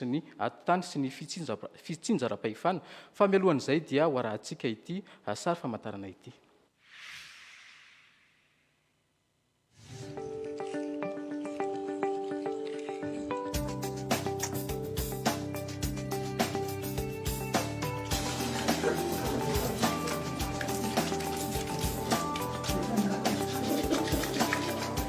sy ny ati-tany sy ny fitsinjaram-pahefana, fa mialohan'izay dia ho arahantsika ity sary famantarana ity.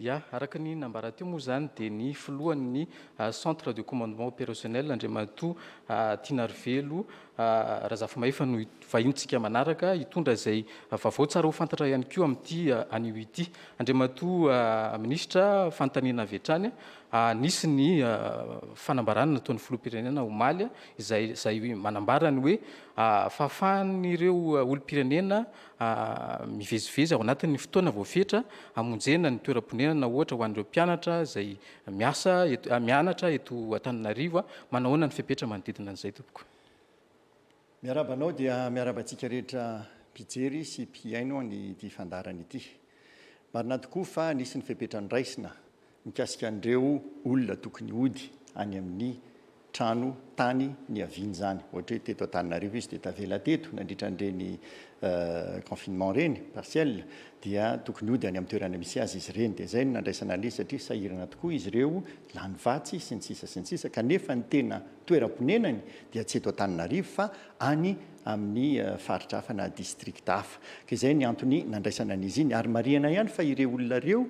Ya, araka ny nambara teo moa izany dia ny filohan'ny ah, centre de commandement opérationnel Andriamatoa ah, Tinarivelo ah, Razafimahefa no hit- vahintsika manaraka hitondra izay vaovao tsara ho fantatra ihany koa amin'ity ah, anio ity. Andriamatoa ah, minisitra, fanontaniana avy hatrany Nisy ny fanambarana nataon'ny filoham-pirenena omaly izay izay manambara ny hoe fahafahan'ireo olom-pirenena mivezivezy ao anatin'ny fotoana voafetra hamonjena ny toeram-ponenana ohatra ho an'ireo mpianatra izay miasa eto mianatra eto Antananarivo. Manahoana ny fepetra manodidina an'izay tompoko? Miarahaba anao dia miarahaba antsika rehetra mpijery sy mpihaino an'ity fandaharana ity. Marina tokoa fa nisy ny fepetra noraisina mikasika an'ireo olona tokony hody any amin'ny trano tany niaviany izany. Ohatra hoe teto Antananarivo izy dia tavela teto nandritra an'ireny confinement ireny partiel dia tokony hody any amin'ny toerana misy azy izy ireny. Dia izay no nandraisana an'ilay izy satria sahirana tokoa izy ireo, lany vatsy sy ny sisa sy ny sisa kanefa ny tena toeram-ponenany dia tsy eto Antananarivo fa any amin'ny faritra hafa na district hafa. Ka izay ny antony nandraisana an'izy iny ary marihana ihany fa ireo olona ireo,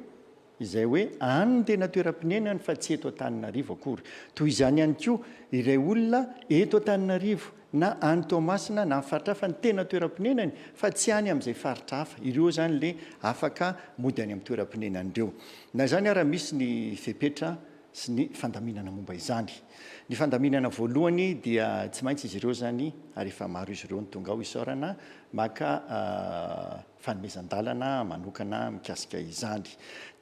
izay hoe any no tena toeram-ponenany fa tsy eto Antananarivo akory. Toy izany ihany koa ireo olona eto Antananarivo na any Toamasina na amin'ny faritra hafa no tena toeram-ponenany fa tsy any amin'izay faritra hafa. Ireo izany ilay afaka mody any amin'ny toeram-ponenany ireo. Na izany ara misy ny fepetra sy ny fandaminana momba izany. Ny fandaminana voalohany dia tsy maintsy izy ireo izany ary efa maro izy ireo no tonga ao isaorana maka fanomezan-dalana manokana mikasika izany.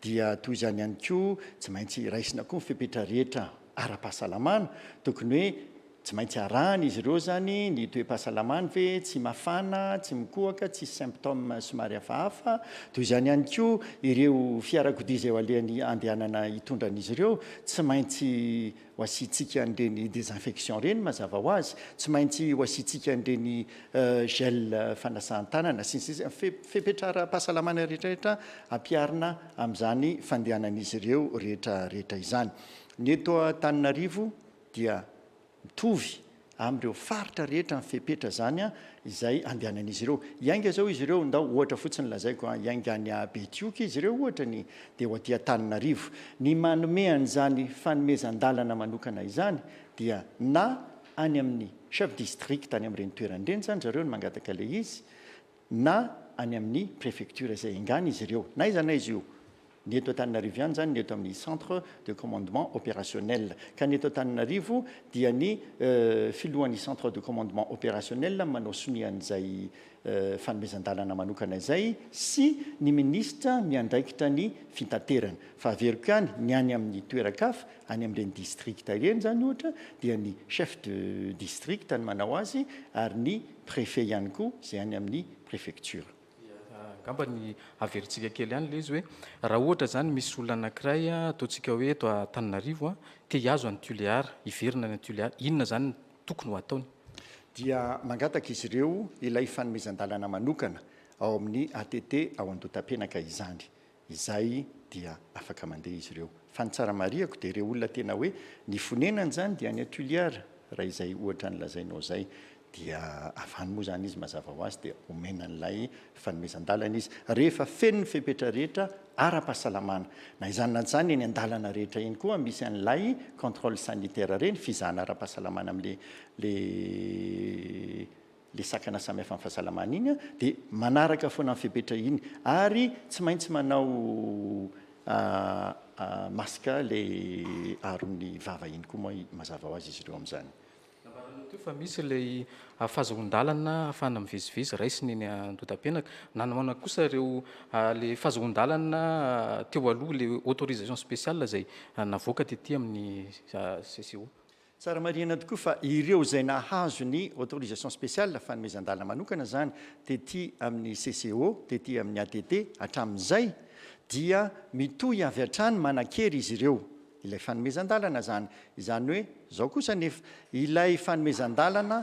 Dia toy izany ihany koa, tsy maintsy raisina koa ny fepetra rehetra ara-pahasalamana. Tokony hoe tsy maintsy arahan'izy ireo izany ny toe-pahasalamany ve, tsy mafana, tsy mikohaka, tsisy symptômes somary hafahafa. Toy izany ihany koa, ireo fiarakodia izay eo alehan'ny handehanana hitondra an'izy ireo, tsy maintsy ho asiantsika an'ireny désinfection ireny mazava ho azy, tsy maintsy ho asiantsika an'ireny gel fanasan-tanana sy ny sisa, fepetra ara-pahasalamana rehetra rehetra ampiharina amin'izany fandehanan'izy ireo rehetra rehetra izany. Ny eto Antananarivo dia mitovy. amin'ireo faritra rehetra ny fepetra izany izay andehanan'izy ireo. Hiainga izao izy ireo, ndao ohatra fotsiny lazaiko an, hiainga any Betioky izy ireo ohatra ny dia ho aty Antananarivo. Ny manome an'izany fanomezan-dalana manokana izany dia na any amin'ny chef district any amin'ireny toerana ireny izany zareo no mangataka ilay izy na any amin'ny prefecture izay engan'izy ireo. Na aiza na aiza io. Ny eto Antananarivo ihany izany ny eto amin'ny Centre de Commandement Opérationnel. Ka ny eto Antananarivo dia ny Filohan'ny Centre de Commandement Opérationnel no manao sonia an'izay fanomezan-dalana manokana izay sy ny Minisitra miandraikitra ny Fitaterana. Fa averiko ihany, ny any amin'ny toeran-kafa, any amin'ireny Districts ireny izany ohatra dia ny Chef de District no manao azy ary ny Préfet ihany koa izay any amin'ny Préfecture. Angamba ny haverintsika kely ihany ilay izy hoe raha ohatra izany misy olona anankiray, ataontsika hoe eto Antananarivo, te hihazo an'i Tuléar, hiverina any Antuléar, inona izany no tokony ho ataony? Dia mangataka izy ireo ilay fanomezan-dalana manokana ao amin'ny ATT ao Andotapenaka izany. izay dia afaka mandeha izy ireo. Fa ny tsara marihako dia ireo olona tena hoe nifonenana izany dia any Tuliar raha izay ohatra ny lazainao izay dia avy any moa izany izy mazava ho azy dia omena an'ilay fanomezan-dalana izy rehefa feno ny fepetra rehetra ara-pahasalamana na izany na izany eny an-dalana rehetra eny koa misy an'ilay controle sanitaire ireny fizahana ara-pahasalamana amin'ilay le sakana samy hafa am fahasalamana iny dia manaraka foana ny fepetra iny ary tsy maintsy manao masque le aron'ny vava iny koa moa mazava ho azy izy ireo amzany. Nambaranao teo fa misy ilay fahazoan-dalana afahana mivezivezy raisina eny Andotapenaka. Nanaona kosa ireo le fahazoan-dalana teo aloha le autorisation spéciale izay navoaka tety amin'ny CCO. Tsara marihina tokoa fa ireo izay nahazo ny autorisation spéciale, fanomezan-dalana manokana izany, tety amin'ny CCO, tety amin'ny ATT, hatramin'izay, dia mitohy avy hatrany manan-kery izy ireo ilay fanomezan-dalana izany. Izany hoe, izao kosa anefa, ilay fanomezan-dalana,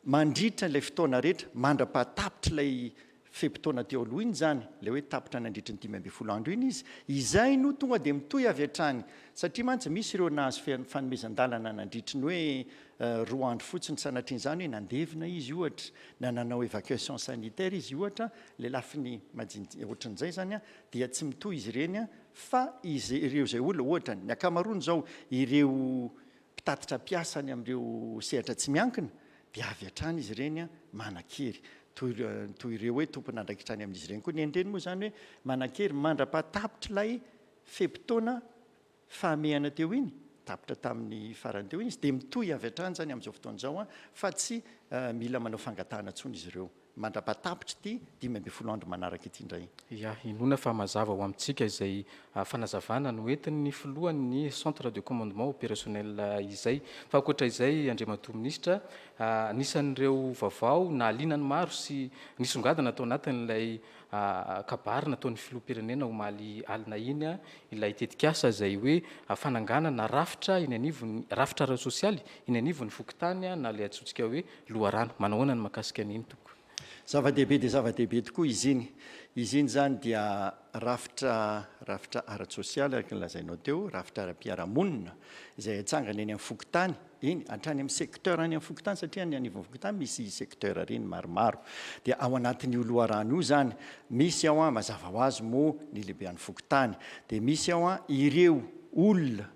Mandritra ilay fotoana rehetra, mandra-pahatapitr'ilay fe-potoana teo aloha iny izany, ilay hoe tapitra nandritry ny dimy ambin'ny folo andro iny izy, izay no tonga dia mitohy avy hatrany. Satria mantsy misy ireo nahazo fanomezan-dalana nandritry ny hoe roa andro fotsiny sanatrian'izany hoe nandevina izy ohatra, na nanao évacuation sanitaire izy ohatra, ilay lafiny majinijinika ohatran'izay izany dia tsy mitohy izy ireny fa izy ireo izay olona, ohatra ny ankamaroany izao ireo mpitatitra mpiasa any amin'ireo sehatra tsy miankina dia avy hatrany izy ireny manan-kery. Toy ireo hoe tompon'andraikitra any amin'izy ireny koa ny eny-reny moa izany hoe manan-kery mandra-pahatapitr'ilay fe-potoana fahamehana teo iny, tapitra tamin'ny farany teo iny izy, dia mitohy avy hatrany izany amin'izao fotoana izao fa tsy mila manao fangatahana intsony izy ireo. mandra-pahatapitry ity dimy ambin'ny folo andro manaraka ity indray. Ya, inoana fa mazava ho amintsika izay fanazavana noentin'ny filohan'ny Centre de Commandement Opérationnel izay. Fa ankoatra izay, Andriamatoa Minisitra, anisan'ireo vaovao nahaliana ny maro sy nisongadina tao anatin'ilay kabary nataon'ny Filoham-pirenena omaly alina iny ilay tetikasa izay hoe fananganana rafitra eny anivon'ny, rafitra ara-tsosialy eny anivon'ny fokontany na ilay antsointsika hoe loharano. Manao ahoana ny mahakasika an' iny tompoko? Zava-dehibe dia zava-dehibe tokoa izy iny. Izy iny izany dia rafitra rafitra ara-tsosialy araka ny lazainao teo, rafitra ara-piarahamonina izay atsangana eny amin'ny fokontany, eny hatrany amin'ny secteur any amin'ny fokontany satria any anivon'ny fokontany misy secteur ireny maromaro. Dia ao anatin'io loharano io izany misy ao an, mazava ho azy moa ny lehibean'ny fokontany, dia misy ao an ireo olona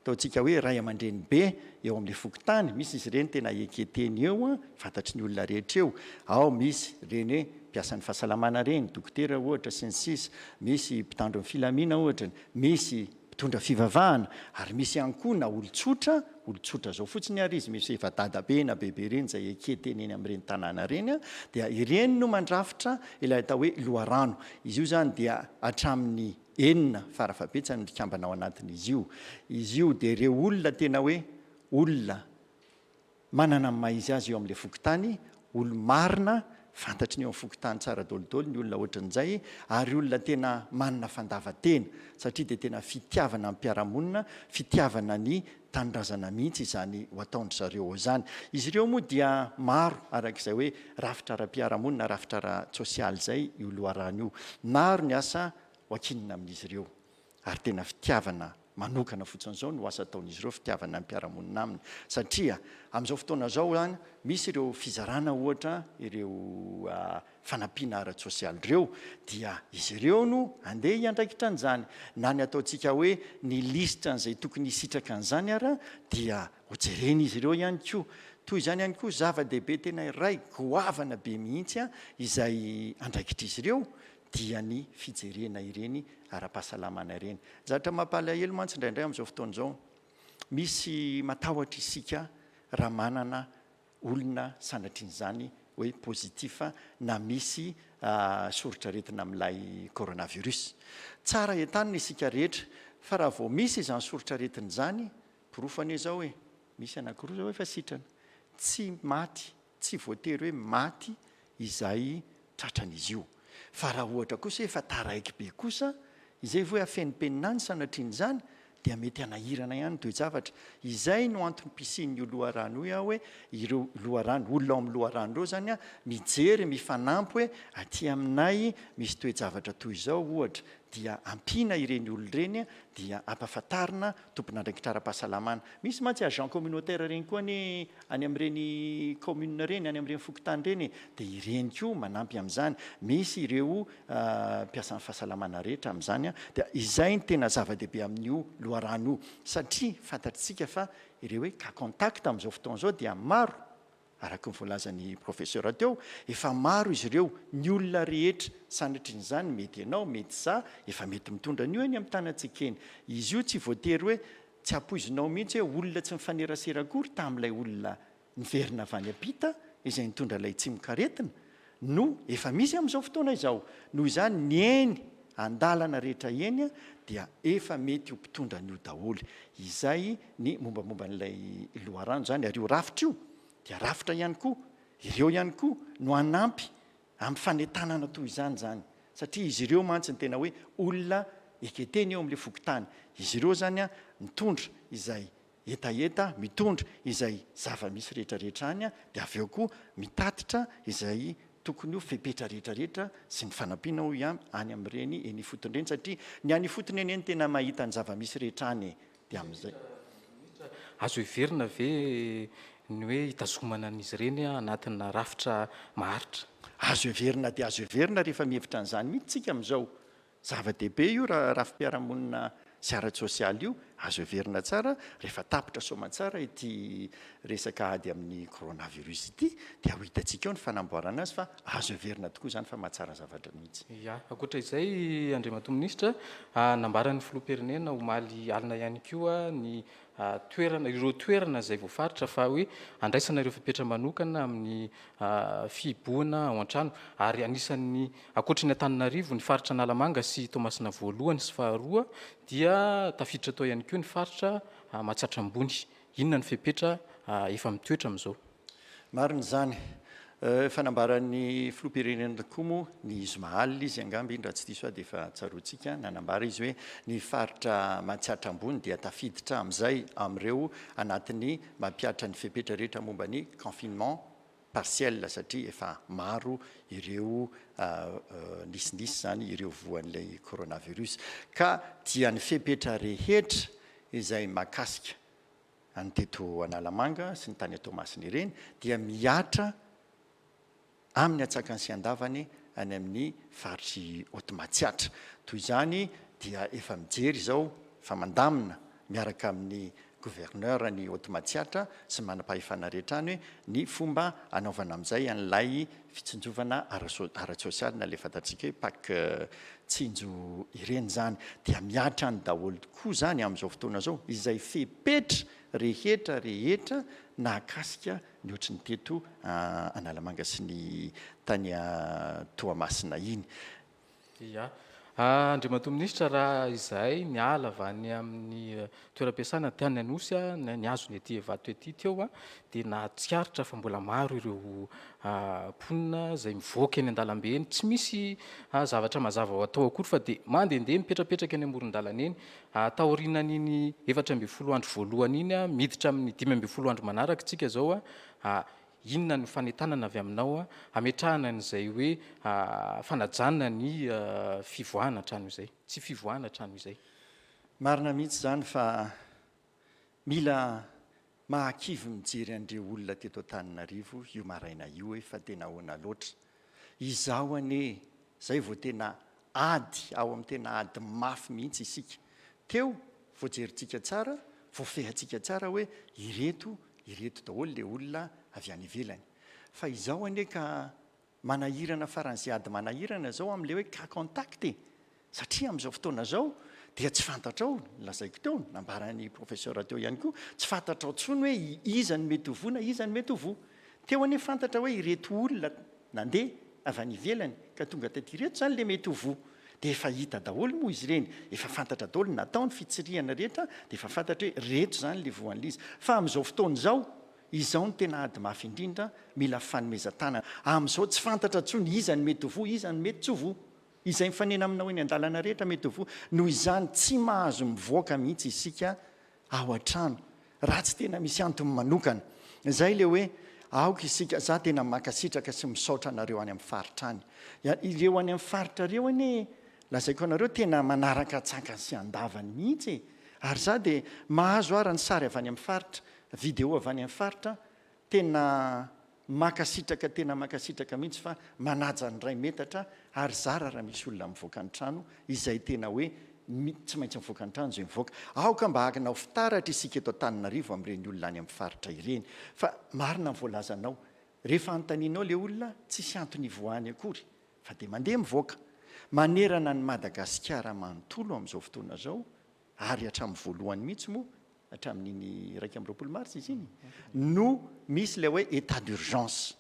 Ataontsika hoe ray aman-dreny be eo amin'ilay fokontany, misy izy ireny tena eke teny eo an, fantatry ny olona rehetra eo, ao misy ireny hoe mpiasan'ny fahasalamana ireny, dokotera ohatra sy ny sisa, misy mpitandro ny filamina ohatra, misy mpitondra fivavahana, ary misy ihany koa na olon-tsotra, olon-tsotra izao fotsiny ary izy, misy efa dadabe na bebe ireny izay eke teny eny amin'ireny tanàna ireny an, dia ireny no mandrafitra ilay atao hoe loharano, izy io izany dia hatramin'ny. Enina fara-fahabetsany ny mpikambana ao anatin'izy io. Izy io dia ireo olona tena hoe olona manana ny maha-izy azy eo amin'ilay fokontany, olo-marina, fantatry ny eo amin'ny fokontany tsara daolidolo ny olona ohatran'izay, ary olona tena manana fandavan-tena, satria dia tena fitiavana ny mpiara-monina, fitiavana ny tanindrazana mihitsy izany ho ataon-dry zareo ao izany. Izy ireo moa dia maro araka izay hoe rafitra ara-piarahamonina na rafitra ara-tsosialy izay io loharano io. Maro ny asa hoakinina amin'izy ireo ary tena fitiavana manokana fotsiny izao no asa ataon'izy ireo, fitiavana ny mpiara-monina aminy satria amin'izao fotoana izao izany misy ireo fizarana ohatra ireo fanampiana ara-tsosialy ireo dia izy ireo no andeha hiandraikitra an'izany. Na ny ataontsika hoe ny lisitra an'izay tokony hisitraka an'izany ara dia ho jeren'izy ireo ihany koa. Toy izany ihany koa zava-dehibe tena iray goavana be mihitsy izay andraikitr'izy ireo dia ny fijerena ireny ara-pahasalamana ireny. Zavatra mampalahelo mantsy indraindray amin'izao fotoana izao, misy matahotra isika raha manana olona sanatrian'izany hoe positif na misy soritr'aretina amin'ilay coronavirus. Tsara entanina isika rehetra fa raha vao misy izany soritr'aretina izany, porofo anie izao e, misy anankiroa izao efa sitrana, tsy maty, tsy voatery hoe maty izay tratran'izy io. Fa raha ohatra kosa hoe efa taraiky be kosa izay vao hoe afenimpenina any sanatrian'izany dia mety hanahirana ihany ny toe-javatra. Izay no antony mpisian'io loharano io aho hoe ireo loharano, olona ao amin'ny loharano ireo izany an, mijery, mifanampy hoe aty aminay misy toe-javatra toy izao ohatra dia ampiana ireny olona ireny dia ampahafantarina Tompon'andraikitra ara-pahasalamana. Misy mantsy agent communautaire ireny koa anie any amin'ireny commune ireny, any amin'ireny fokontany ireny e! Dia ireny koa manampy amin'izany. Misy ireo mpiasan'ny fahasalamana rehetra amin'izany an! Dia izay no tena zava-dehibe amin'io loharano io satria fantatr'isika fa ireo hoe cas contact amin'izao fotoana izao dia maro. Araka ny voalazan'i Professeur teo, efa maro izy ireo, ny olona rehetra, sanatrin'izany mety ianao, mety izaho, efa mety mitondra an'io eny amin'ny tanantsika eny. Izy io tsy voatery hoe tsy ampoizinao mihitsy hoe olona tsy mifanerasera akory tamin'ilay olona niverina avy any am-pita izay nitondra ilay tsimokaretina, no efa misy amin'izao fotoana izao. Noho izany, ny eny an-dalana rehetra eny dia efa mety ho mpitondra an'io daholo. Izay ny mombamomba an'ilay loharano izany. Ary io rafitra io dia rafitra ihany koa, ireo ihany koa no hanampy amin'ny fanentanana toy izany izany. Satria izy ireo mantsy no tena hoe olona eketeny eo amin'ilay fokontany. Izy ireo izany mitondra izay hetaheta mitondra izay zava-misy rehetrarehetra any dia avy eo koa mitatitra izay tokony ho fepetra rehetrarehetra sy ny fanampiana hoy an any amin'ireny eny ifotony ireny satria ny any ifotony anie no tena mahita ny zava-misy rehetra any e! dia amin'izay Azo heverina ve ny hoe hitazomana an'izy ireny anatina rafitra maharitra? Azo heverina dia azo heverina rehefa mihevitra an'izany mihitsy isika amin'izao Zava-dehibe io rafi-piarahamonina sy ara-tsosialy io, azo heverina tsara rehefa tapitra soamantsara ity resaka ady amin'ny coronavirus ity dia ho hitantsika eo ny fanamboarana azy fa azo heverina tokoa izany fa mahatsara zavatra mihitsy. Ya, ankoatra izay Andriamatoa Minisitra, nambaran'ny Filoham-pirenena omaly alina ihany koa ny toerana, ireo toerana izay voafaritra fa hoe handraisana ireo fepetra manokana amin'ny fihibohana ao an-trano. Ary anisan'ny, ankoatry ny Antananarivo, ny faritra Analamanga sy Toamasina voalohany sy faharoa dia tafiditra tao ihany koa ny faritra Mahatsiatra Ambony. Inona ny fepetra efa mitoetra amin'izao? Marina izany. Efa nambaran'ny filoham-pirenena tokoa moa ny zoma alina izy angamba iny raha tsy diso aho dia efa tsaroantsika, nanambara izy hoe ny faritra Matsiatra Ambony dia tafiditra amin'izay amin'ireo anatin'ny mampihatra ny fepetra rehetra momba ny confinement partiel satria efa maro ireo nisinisy izany ireo voan'ilay coronavirus ka dia ny fepetra rehetra izay mahakasika any teto Analamanga sy ny tany à Toamasina ireny dia mihatra amin'ny atsakany sy andavany any amin'ny faritr'i Haute Matsiatra. Toy izany dia efa mijery izao fa mandamina miaraka amin'ny Gouverneur any Haute Matsiatra sy ny manam-pahefana rehetra any hoe ny fomba hanaovana amin'izay an'ilay fitsinjovana ara-tsosialy na le fantatsika hoe pack tsinjo ireny izany dia mihatra any daholo tokoa izany amin'izao fotoana izao izay fepetra rehetra rehetra nahakasika ny ohatry ny teto Analamanga sy ny tany Toamasina iny. Dia, Andriamatoa Minisitra, raha izahay niala avy any amin'ny toeram-piasana tany Anosy aho, nihazo ny ety Ivato ety teo aho, dia nahatsikaritra fa mbola maro ireo mponina izay mivoaka eny an-dalambe eny, tsy misy zavatra mazava ho atao akory fa dia mandehandeha mipetrapetraka eny amoron-dalana eny. Taorianan'iny efatra ambin'ny folo andro voalohany iny, miditra amin'ny dimy ambin'ny folo andro manaraka isika izao, Inona no fanentanana avy aminao hametrahana an'izay hoe fanajana ny fivoahana hatrany izay, tsy fivoahana hatrany izay? Marina mihitsy izany fa mila mahakivy mijery an'ireo olona teto Antananarivo io maraina io hoe fa dia nahoana loatra Izaho anie zay vao tena ady ao amin'ny tena ady mafy mihitsy isika teo vao jerintsika tsara vao fehantsika tsara hoe ireto ireto daholo le olona avy any ivelany fa izao anie ka manahirana faran'izay ady manahirana zao amle hoe cas contact e! Satria amin'izao fotoana izao dia tsy fantatrao, lazaiko teo, nambaran'ny professeur teo ihany koa, tsy fantatrao intsony hoe iza no mety ho voa na iza no mety ho voa. Teo anie fantatra hoe ireto olona nandeha avy any ivelany ka tonga teto ireto izany ilay mety ho voa. Dia efa hita daholo moa izy ireny, efa fantatra daholo ny natao, ny fitsirihana rehetra dia efa fantatra hoe ireto izany ilay voa an'ilay izy. Fa amin'izao fotoana izao, izao no tena ady mafy indrindra, mila fanomezan-tanana. Amin'izao tsy fantatra intsony iza no mety ho voa, iza no mety tsy ho voa. Izay mifanena aminao eny an-dalana rehetra mety ho voa noho izany. Tsy mahazo mivoaka mihitsy isika ao an-trano raha tsy tena misy antony manokana. Izay ilay hoe aoka isika, izaho tena mankasitraka sy misaotra anareo any amin'ny faritra any. Ireo any amin'ny faritra ireo anie lazaiko anareo tena manaraka an-tsakany sy an-davany mihitsy e! Ary izaho dia mahazo ara ny sary avy any amin'ny faritra, video avy any amin'ny faritra Tena makasitraka tena makasitraka mihitsy fa manaja ny ray metatra ary zara raha misy olona mivoaka ny trano izay tena hoe tsy maintsy mivoaka ny trano izay mivoaka aoka mba akina ho fitaratra isika eto Antananarivo amin'ireny olona any amin'ny faritra ireny fa marina ny voalazanao rehefa anontanianao ilay olona tsisy antony hivoahany akory fa dia mandeha mivoaka manerana an'i Madagasikara manontolo amin'izao fotoana izao ary hatramin'ny voalohany mihitsy moa hatramin'iny iraika amby roapolo marsa izy iny no misy ilay hoe état d'urgence.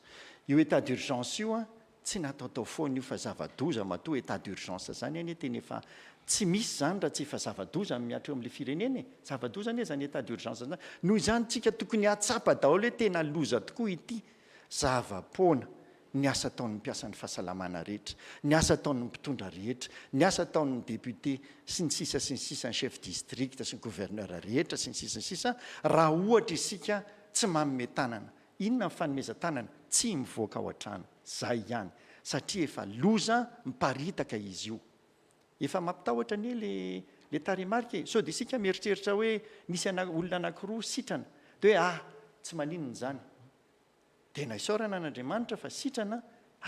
Io état d'urgence io an, tsy nataotao foana io fa zava-doza matoa état d'urgence izany anie tena efa tsy misy izany raha tsy efa zava-doza amin'ny hatreo amin'ilay firenena e! Zava-doza anie izany état d'urgence izany. Noho izany, isika tokony hahatsapa daholo hoe tena loza tokoa ity zava-poana ny asa ataon'ny mpiasan'ny fahasalamana rehetra, ny asa ataon'ny mpitondra rehetra, ny asa ataon'ny député sy ny sisa sy ny sisa, ny chef district sy ny gouverneur rehetra sy ny sisa sy ny sisa, raha ohatra isika tsy manome tanana, inona ny fanomezan-tanana? Tsy mivoaka ao an-trano, izay ihany, satria efa loza miparitaka izy io. Efa mampitahotra anie le le tarehimarika e! Sao dia isika mieritreritra hoe misy ana olona anankiroa sitrana, dia hoe ah, tsy maninona izany. Tena isaorana an' Andriamanitra fa sitrana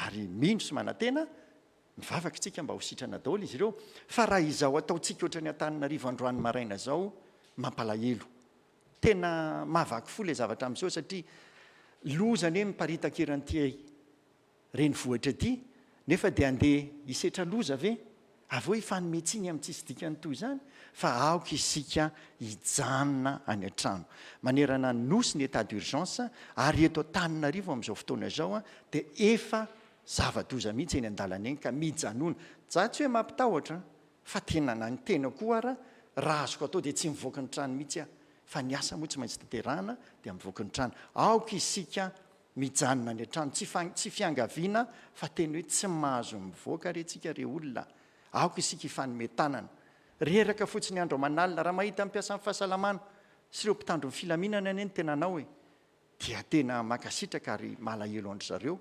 ary mino sy manantena, mivavaka isika mba ho sitrana daholo izy ireo, fa raha izao ataontsika ohatran'i Antananarivo androany maraina izao, mampalahelo. Tena mahavaky fo ilay zavatra miseho satria loza anie miparitaka eran'ity. renivohitra ity nefa dia handeha hisetra loza ve? Avy eo hifanome tsiny amin'ny tsisy dikany toy izany fa aoka isika hijanona any an-trano. Manerana ny Nosy ny état d'urgence ary eto Antananarivo amin'izao fotoana izao dia efa zava-doza mihitsy eny an-dalana eny ka mijanona. Za tsy hoe mampitahotra fa tena na ny tena koa ara raha azoko atao dia tsy mivoaka ny trano mihitsy aho fa ny asa moa tsy maintsy tanterahana dia mivoaka ny trano. Aoka isika Mijanona any an-trano, tsy fa tsy fiangaviana fa teny hoe tsy mahazo mivoaka re tsika re olona, aoka isika hifanome tanana. Reraka fotsiny andro aman'alina, raha mahita ny mpiasan'ny fahasalamana sy ireo mpitandro ny filaminana anie ny tenanao e, dia tena mankasitraka ary malahelo an-dry zareo,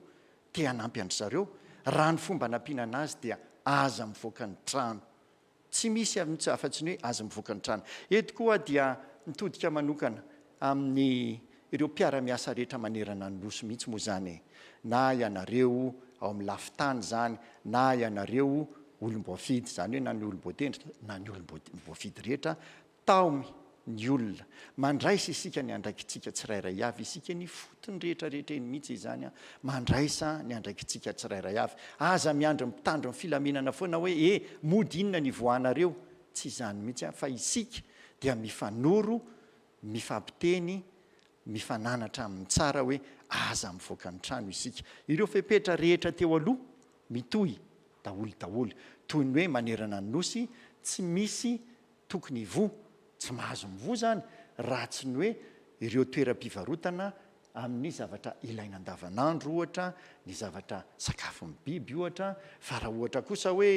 te hanampy an-dry zareo, raha ny fomba anampiana an'azy dia aza mivoaka ny trano. Tsy misy afa-tsy ny hoe azy mivoaka ny trano. Eto koa dia mitodika manokana amin'ny ireo mpiara-miasa rehetra manerana ny Nosy mihitsy moa izany e! Na ianareo ao amin'ny lafin-tany izany, na ianareo olom-boafidy, izany hoe na ny olom-boatendry na ny olom-boafidy rehetra Taomy ny olona. Mandraisa isika ny andraikitsika tsirairay avy. Isika ny fotony rehetra rehetra eny mihitsy izany an. Mandraisa ny andraikitsika tsirairay avy. Aza miandry ny mpitandro ny filaminana foana hoe e, mody inona ny ivoahanareo. Tsy izany mihitsy an, fa isika dia mifanoro, mifampiteny, mifananatra amin'ny tsara hoe aza mivoaka ny trano isika. Ireo fepetra rehetra teo aloha mitohy daholo daholo. Toy ny hoe manerana ny nosy tsy misy Tokony hivoha, tsy mahazo mivoha izany raha tsy ny hoe ireo toeram-pivarotana amin'ny zavatra ilaina andavanandro ohatra, ny zavatra sakafon'ny biby ohatra, fa raha ohatra kosa hoe,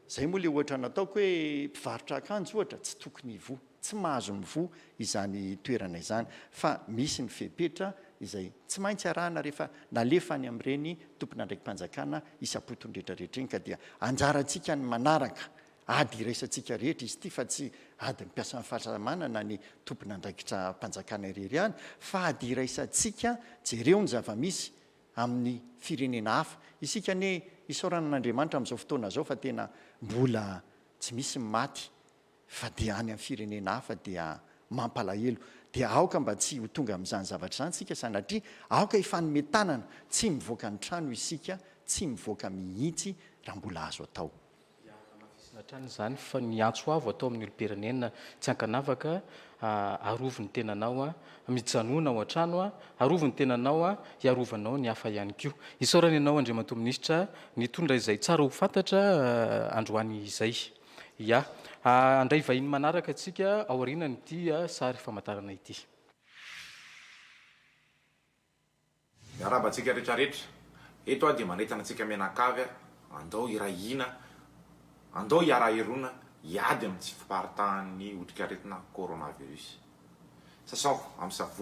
izay moa ilay ohatra nataoko hoe mpivarotra akanjo ohatra, tsy tokony hivoha, tsy mahazo mivoha izany toerana izany fa misy ny fepetra izay tsy maintsy arahana rehefa nalefa any amin'ireny tompon'andraiki-panjakana isam-potony rehetra rehetra iny ka dia anjarantsika ny manaraka Ady iraisantsika rehetra izy ity fa tsy adin'ny mpiasan'ny fahasalamana na ny tompon'andraikitram-panjakana irery ihany fa ady iraisantsika jereo ny zava-misy amin'ny firenena hafa. Isika anie isaorana an'Andriamanitra amin'izao fotoana izao fa tena mbola tsy misy ny maty fa dia any amin'ny firenena hafa dia mampalahelo. Dia aoka mba tsy ho tonga amin'izany zavatra izany isika sanatria aoka hifanome tanana tsy mivoaka ny trano isika tsy mivoaka mihitsy raha mbola azo atao. dia hanamafisina hatrany izany fa ny antso avo atao amin'ny olom-pirenena tsy ankanavaka, arovy ny tenanao, mijanona ao an-trano, arovy ny tenanao, hiarovanao ny hafa ihany koa. Isaorana ianao Andriamatoa Minisitra nitondra izay tsara ho fantatra androany izay. Ya. Handray vahiny manaraka isika aorianan'ity sary famantarana ity. Miarahaba antsika rehetra rehetra. Eto aho dia manentana antsika mianakavy aho, andao hiray hina, andao hiara-hirona hiady amin'ny tsy fiparitahan'ny otrikaretina coronavirus. Sasao amin'ny savony.